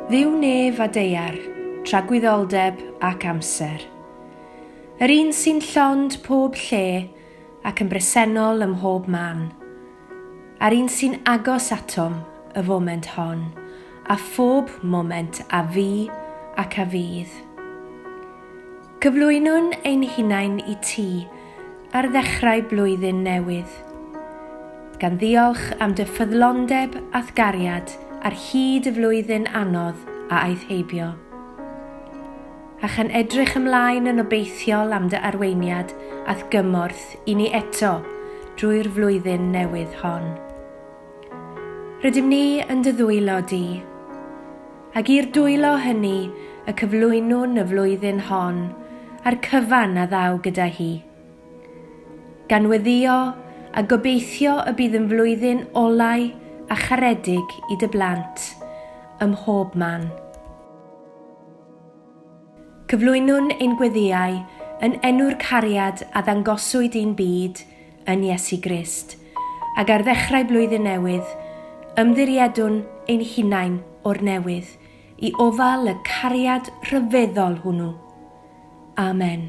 Dduw nef a deiar, tragwyddoldeb ac amser. Yr un sy'n llond pob lle ac yn bresennol ym mhob man. A'r un sy'n agos atom y foment hon, a phob moment a fu ac a fydd. Cyflwynwn ein hunain i Ti ar ddechrau blwyddyn newydd, gan ddiolch am Dy ffyddlondeb a'th gariad ar hyd y flwyddyn anodd a aeth heibio, a chan edrych ymlaen yn obeithiol am Dy arweiniad a'th gymorth i ni eto drwy'r flwyddyn newydd hon. Rydym ni yn Dy ddwylo Di. Ac i'r dwylo hynny y cyflwynwn y flwyddyn hon, a'r cyfan a ddaw gyda hi. Gan weddïo a gobeithio y bydd yn flwyddyn olau a charedig i dy blant, ym mhob man. Cyflwynwn ein gweddïau yn enw'r cariad a ddangoswyd i'n byd yn Iesu Grist, ac ar ddechrau blwyddyn newydd, ymddiriedwn ein hunain o'r newydd i ofal y cariad rhyfeddol hwnnw. Amen.